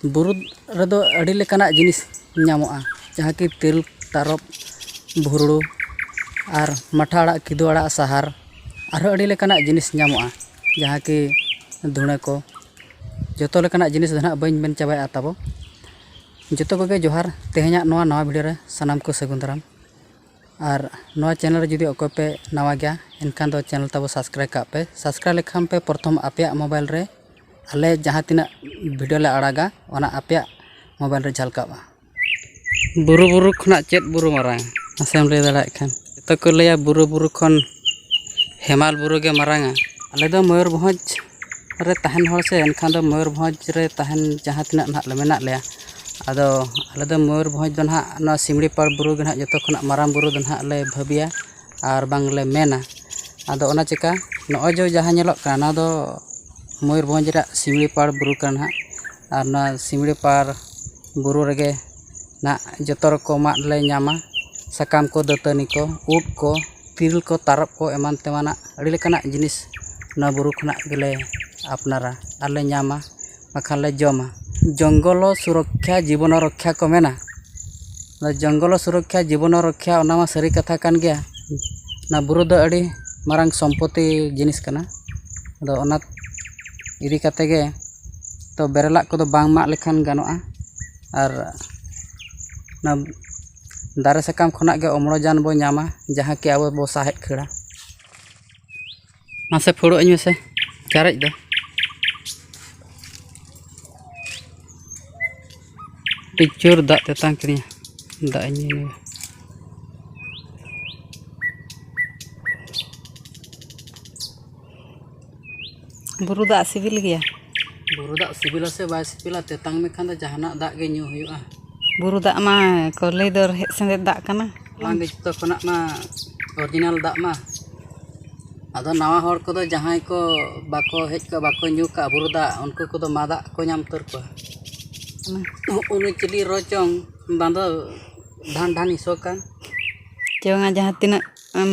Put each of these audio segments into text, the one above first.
ᱵᱩᱨᱩ ᱨᱮᱫᱚ ᱟᱹᱰᱤ ᱞᱮᱠᱟᱱᱟᱜ ᱡᱤᱱᱤᱥ ᱧᱟᱢᱚᱜᱼᱟ ᱡᱟᱦᱟᱸ ᱠᱤ ᱛᱮᱨᱮᱞ ᱛᱟᱨᱚᱵ ᱵᱷᱩᱸᱰᱨᱩ ᱟᱨ ᱢᱟᱴᱷᱟ ᱟᱲᱟᱜ ᱠᱤᱫᱩ ᱟᱲᱟᱜ ᱥᱟᱦᱟᱨ ᱟᱨᱦᱚᱸ ᱟᱹᱰᱤ ᱞᱮᱠᱟᱱᱟᱜ ᱡᱤᱱᱤᱥ ᱧᱟᱢᱚᱜᱼᱟ ᱡᱟᱦᱟᱸ ᱠᱤ ᱫᱷᱩᱬᱟᱹ ᱠᱚ ᱡᱚᱛᱚ ᱞᱮᱠᱟᱱᱟᱜ ᱡᱤᱱᱤᱥ ᱫᱚ ᱦᱟᱸᱜ ᱵᱟᱹᱧ ᱢᱮᱱ ᱪᱟᱵᱟᱭᱟ ᱛᱟᱵᱚ ᱡᱚᱛᱚ ᱠᱚᱜᱮ ᱡᱚᱦᱟᱨ ᱛᱮᱦᱮᱧᱟᱜ ᱱᱚᱣᱟ ᱱᱟᱣᱟ ᱵᱷᱤᱰᱭᱳ ᱨᱮ ᱥᱟᱱᱟᱢ ᱠᱚ ᱥᱟᱹᱜᱩᱱ ᱫᱟᱨᱟᱢ ᱟᱨ ᱱᱚᱣᱟ ᱪᱮᱱᱮᱞ ᱨᱮ ᱡᱩᱫᱤ ᱚᱠᱚᱭ ᱯᱮ ᱱᱟᱣᱟ ᱜᱮᱭᱟ ᱮᱱᱠᱷᱟᱱ ᱫᱚ ᱪᱮᱱᱮᱞ ᱛᱟᱵᱚ ᱥᱟᱵᱥᱠᱨᱟᱭᱤᱵᱽ ᱠᱟᱜ ᱯᱮ ᱥᱟᱵᱥᱠᱨᱟᱭᱤᱵᱽ ᱞᱮᱠᱷᱟᱱ ᱯᱮ ᱯᱨᱚᱛᱷᱚᱢ ᱟᱯᱮᱭᱟᱜ ᱢᱳᱵᱟᱭᱤᱞ ᱨᱮ ᱟᱞᱮ ᱡᱟᱦᱟᱸ ᱛᱤᱱᱟᱹᱜ ᱵᱷᱤᱰᱤᱭᱳ ᱞᱮ ᱟᱲᱟᱜᱟ ᱚᱱᱟ ᱟᱯᱮᱭᱟᱜ ᱢᱳᱵᱟᱭᱤᱞ ᱨᱮ ᱡᱷᱟᱞᱠᱟᱜᱼᱟ ᱵᱩᱨᱩ ᱵᱩᱨᱩ ᱠᱷᱚᱱᱟᱜ ᱪᱮᱫ ᱵᱩᱨᱩ ᱢᱟᱨᱟᱝ ᱢᱟᱥᱮᱢ ᱞᱟᱹᱭ ᱫᱟᱲᱮᱭᱟᱜ ᱠᱷᱟᱱ ᱡᱚᱛᱚ ᱠᱚ ᱞᱟᱹᱭᱟ ᱵᱩᱨᱩ ᱵᱩᱨᱩ ᱠᱷᱚᱱ ᱦᱮᱢᱟᱞ ᱵᱩᱨᱩ ᱜᱮ ᱢᱟᱨᱟᱝᱟ ᱟᱞᱮ ᱫᱚ ᱢᱚᱭᱩᱨᱵᱷᱚᱸᱡᱽ ᱨᱮ ᱛᱟᱦᱮᱱ ᱦᱚᱲ ᱥᱮ ᱮᱱᱠᱷᱟᱱ ᱫᱚ ᱢᱚᱭᱩᱨᱵᱷᱚᱸᱡᱽ ᱨᱮ ᱛᱟᱦᱮᱱ ᱡᱟᱦᱟᱸ ᱛᱤᱱᱟᱹᱜ ᱱᱟᱦᱟᱜ ᱞᱮ ᱢᱮᱱᱟᱜ ᱞᱮᱭᱟ ᱟᱫᱚ ᱟᱞᱮ ᱫᱚ ᱢᱚᱭᱩᱨᱵᱷᱚᱸᱡᱽ ᱫᱚ ᱱᱟᱦᱟᱜ ᱱᱚᱣᱟ ᱥᱤᱢᱲᱤ ᱯᱟᱲ ᱵᱩᱨᱩ ᱜᱮ ᱱᱟᱦᱟᱜ ᱡᱚᱛᱚ ᱠᱷᱚᱱᱟᱜ ᱢᱟᱨᱟᱝ ᱵᱩᱨᱩ ᱫᱚ ᱱᱟᱦᱟᱜ ᱞᱮ ᱵᱷᱟᱹᱵᱤᱭᱟ ᱟᱨ ᱵᱟᱝ ᱞᱮ ᱢᱮᱱᱟ ᱟᱫᱚ ᱚᱱᱟ ᱪᱤᱠᱟᱹ ᱱᱚᱜᱼᱚᱭ ᱡᱮ ᱡᱟᱦᱟᱸ ᱧᱮᱞᱚᱜ ᱠᱟᱱ ᱱᱚᱣᱟ ᱫᱚ ᱢᱚᱭᱩᱨᱵᱷᱚᱸᱡᱽ ᱨᱮᱭᱟᱜ ᱥᱤᱢᱲᱤ ᱯᱟᱲ ᱵᱩᱨᱩ ᱠᱟᱱᱟ ᱱᱟᱦᱟᱜ ᱟᱨ ᱱᱚᱣᱟ ᱥᱤᱢᱲᱤ ᱯᱟᱲ ᱵᱩᱨᱩ ᱨᱮᱜᱮ ᱱᱟᱦᱟᱜ ᱡᱚᱛᱚ ᱨᱚᱠᱚᱢᱟᱜ ᱞᱮ ᱧᱟᱢᱟ ᱥᱟᱠᱟᱢ ᱠᱚ ᱫᱟᱹᱛᱟᱹᱱᱤ ᱠᱚ ᱩᱫ ᱠᱚ ᱛᱤᱨᱤᱞ ᱠᱚ ᱛᱟᱨᱚᱵ ᱠᱚ ᱮᱢᱟᱱ ᱛᱮᱢᱟᱱᱟᱜ ᱟᱹᱰᱤ ᱞᱮᱠᱟᱱᱟᱜ ᱡᱤᱱᱤᱥ ᱱᱚᱣᱟ ᱵᱩᱨᱩ ᱠᱷᱚᱱᱟᱜ ᱜᱮᱞᱮ ᱟᱯᱱᱟᱨᱟ ᱟᱨ ᱞᱮ ᱧᱟᱢᱟ ᱵᱟᱠᱷᱟᱱ ᱞᱮ ᱡᱚᱢᱟ ᱡᱚᱝᱜᱚᱞᱚ ᱥᱩᱨᱚᱠᱠᱷᱟ ᱡᱤᱵᱚᱱᱚ ᱨᱚᱠᱠᱷᱟ ᱠᱚ ᱢᱮᱱᱟ ᱚᱱᱟ ᱡᱚᱝᱜᱚᱞᱚ ᱥᱩᱨᱚᱠᱠᱷᱟ ᱡᱤᱵᱚᱱᱚ ᱨᱚᱠᱠᱷᱟ ᱚᱱᱟ ᱢᱟ ᱥᱟᱹᱨᱤ ᱠᱟᱛᱷᱟ ᱠᱟᱱ ᱜᱮᱭᱟ ᱚᱱᱟ ᱵᱩᱨᱩ ᱫᱚ ᱟᱹᱰᱤ ᱢᱟᱨᱟᱝ ᱥᱚᱢᱯᱚᱛᱛᱤ ᱡᱤᱱᱤᱥ ᱠᱟᱱᱟ ᱟᱫᱚ ᱚᱱᱟ ᱤᱫᱤ ᱠᱟᱛᱮ ᱜᱮ ᱛᱚ ᱵᱮᱨᱮᱞᱟᱜ ᱠᱚᱫᱚ ᱵᱟᱝ ᱢᱟᱜ ᱞᱮᱠᱷᱟᱱ ᱜᱟᱱᱚᱜᱼᱟ ᱟᱨ ᱚᱱᱟ ᱫᱟᱨᱮ ᱥᱟᱠᱟᱢ ᱠᱷᱚᱱᱟᱜ ᱜᱮ ᱚᱢᱚᱱᱡᱟᱱ ᱵᱚᱱ ᱧᱟᱢᱟ ᱡᱟᱦᱟᱸ ᱠᱤ ᱟᱵᱚ ᱵᱚᱱ ᱥᱟᱦᱮᱸᱫ ᱠᱷᱟᱹᱲᱟ ᱢᱟᱥᱮ ᱯᱷᱩᱲᱩᱜ ᱟᱹᱧ ᱢᱮᱥᱮ ᱪᱟᱨᱮᱡ ᱫᱚ ᱟᱹᱰᱤ ᱡᱳᱨ ᱫᱟᱜ ᱛᱮᱛᱟᱝ ᱠᱤᱫᱤᱧᱟ ᱫᱟᱜ ᱤᱧ ᱧᱩᱭᱟ ᱵᱩᱨᱩ ᱫᱟᱜ ᱥᱤᱵᱤᱞ ᱜᱮᱭᱟ ᱵᱩᱨᱩ ᱫᱟᱜ ᱥᱤᱵᱤᱞᱟ ᱥᱮ ᱵᱟᱭ ᱥᱤᱵᱤᱞᱟ ᱛᱮᱛᱟᱝ ᱢᱮᱠᱷᱟᱱ ᱫᱚ ᱡᱟᱦᱟᱱᱟᱜ ᱫᱟᱜ ᱜᱮ ᱧᱩ ᱦᱩᱭᱩᱜᱼᱟ ᱵᱩᱨᱩ ᱫᱟᱜ ᱢᱟ ᱠᱚ ᱞᱟᱹᱭ ᱫᱚ ᱨᱮᱦᱮᱫ ᱥᱮᱸᱫᱮᱛ ᱫᱟᱜ ᱠᱟᱱᱟ ᱚᱱᱟ ᱜᱮ ᱡᱚᱛᱚ ᱠᱷᱚᱱᱟᱜ ᱢᱟ ᱚᱨᱤᱡᱤᱱᱟᱞ ᱫᱟᱜ ᱢᱟ ᱟᱫᱚ ᱱᱟᱣᱟ ᱦᱚᱲ ᱠᱚᱫᱚ ᱡᱟᱦᱟᱸᱭ ᱠᱚ ᱵᱟᱠᱚ ᱦᱮᱡ ᱠᱚᱜᱼᱟ ᱵᱟᱠᱚ ᱧᱩ ᱠᱟᱜᱼᱟ ᱵᱩᱨᱩ ᱫᱟᱜ ᱩᱱᱠᱩ ᱠᱚᱫᱚ ᱢᱟ ᱫᱟᱜ ᱠᱚ ᱧᱟᱢ ᱩᱛᱟᱹᱨ ᱠᱚᱣᱟ ᱩᱱᱤ ᱪᱤᱞᱤ ᱨᱚ ᱪᱚᱝ ᱵᱟᱝ ᱫᱚ ᱰᱷᱟᱱ ᱰᱷᱟᱱᱤ ᱥᱚ ᱠᱟᱱ ᱪᱚᱝᱼᱟ ᱡᱟᱦᱟᱸ ᱛᱤᱱᱟᱹᱜ ᱮᱢ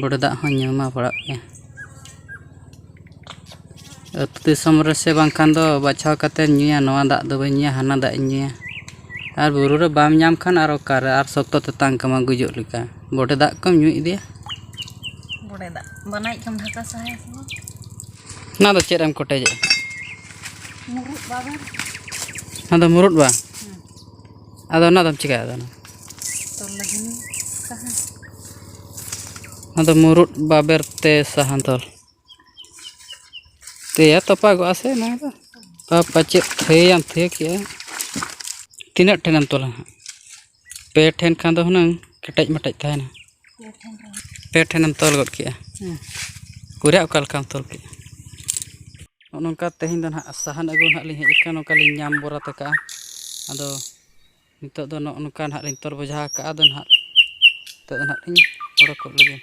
ᱵᱚᱰᱮ ᱫᱟᱜ ᱦᱚᱸ ᱧᱩ ᱢᱟ ᱯᱟᱲᱟᱜ ᱜᱮ ᱟᱹᱛᱩ ᱫᱤᱥᱚᱢ ᱨᱮ ᱥᱮ ᱵᱟᱝᱠᱷᱟᱱ ᱫᱚ ᱵᱟᱪᱷᱟᱣ ᱠᱟᱛᱮᱫ ᱧᱩᱭᱟ ᱱᱚᱣᱟ ᱫᱟᱜ ᱫᱚ ᱵᱟᱹᱧ ᱧᱩᱭᱟ ᱦᱟᱱᱟ ᱫᱟᱜ ᱤᱧ ᱧᱩᱭᱟ ᱟᱨ ᱵᱩᱨᱩ ᱨᱮ ᱵᱟᱢ ᱧᱟᱢ ᱠᱷᱟᱱ ᱟᱨ ᱚᱠᱟᱨᱮ ᱟᱨ ᱥᱚᱠᱛᱚ ᱛᱮᱛᱟᱝ ᱠᱟᱢᱟ ᱜᱩᱡᱩᱜ ᱞᱮᱠᱟ ᱵᱚᱰᱮ ᱫᱟᱜ ᱠᱚᱢ ᱧᱩ ᱤᱫᱤᱭᱟ ᱵᱚᱰᱮ ᱫᱟᱜ ᱵᱟᱱᱟᱭᱤᱡ ᱠᱷᱟᱱ ᱫᱷᱟᱠᱟ ᱥᱟᱦᱟᱭᱟ ᱥᱮ ᱵᱟᱝ ᱚᱱᱟ ᱫᱚ ᱪᱮᱫ ᱮᱢ ᱠᱚᱴᱮᱡᱮᱜᱼᱟ ᱢᱩᱨᱩᱫ ᱵᱟᱵᱮᱨ ᱚᱱᱟ ᱫᱚ ᱢᱩᱨᱩᱫ ᱵᱟ ᱟᱫᱚ ᱚᱱᱟ ᱫᱚᱢ ᱪᱤᱠᱟᱹᱭᱟ ᱟᱫᱚ ᱛᱚᱞ ᱞᱟᱹᱜᱤᱫ ᱥᱟᱦᱟᱱ ᱟᱫᱚ ᱢᱩᱨᱩᱫ ᱵᱟᱵᱮᱨ ᱛᱮ ᱥᱟᱦᱟᱱ ᱛᱚᱞ ᱛᱮᱭᱟ ᱛᱚᱯᱟᱜᱚᱜᱼᱟ ᱥᱮ ᱚᱱᱟ ᱫᱚ ᱟᱨ ᱯᱟᱪᱮᱫ ᱛᱷᱟᱹᱭᱟᱢ ᱛᱷᱟᱹᱭ ᱠᱮᱜᱼᱟ ᱛᱤᱱᱟᱹᱜ ᱴᱷᱮᱱᱮᱢ ᱛᱚᱞᱟ ᱦᱟᱸᱜ ᱯᱮ ᱴᱷᱮᱱ ᱠᱷᱟᱱ ᱫᱚ ᱦᱩᱱᱟᱹᱝ ᱠᱮᱴᱮᱡ ᱢᱮᱴᱮᱡ ᱛᱟᱦᱮᱱᱟ ᱯᱮ ᱴᱷᱮᱱᱮᱢ ᱛᱚᱞ ᱜᱚᱫ ᱠᱮᱜᱼᱟ ᱠᱩᱨᱭᱟ ᱚᱠᱟ ᱞᱮᱠᱟᱢ ᱛᱚᱞ ᱠᱮᱜᱼᱟ ᱱᱚᱜᱼᱚ ᱱᱚᱝᱠᱟ ᱛᱮᱦᱮᱧ ᱫᱚ ᱱᱟᱦᱟᱜ ᱥᱟᱦᱟᱱ ᱟᱹᱜᱩ ᱱᱟᱦᱟᱜ ᱞᱤᱧ ᱦᱮᱡ ᱟᱠᱟᱱᱟ ᱱᱚᱝᱠᱟ ᱞᱤᱧ ᱧᱟᱢ ᱵᱚᱨᱟᱛ ᱟᱠᱟᱜᱼᱟ ᱟᱫᱚ ᱱᱤᱛᱚᱜ ᱫᱚ ᱱᱚᱜᱼᱚ ᱱᱚᱝᱠᱟ ᱱᱟᱦᱟᱜ ᱞᱤᱧ ᱛᱚᱞ ᱵᱚᱡᱷᱟ ᱟᱠᱟᱜᱼᱟ ᱟᱫᱚ ᱱᱟᱦᱟᱜ ᱱᱤᱛᱚᱜ ᱫᱚ ᱱᱟᱦᱟᱜ ᱞᱤᱧ ᱚᱰᱚᱠᱚᱜ ᱞᱟᱹᱜᱤᱫ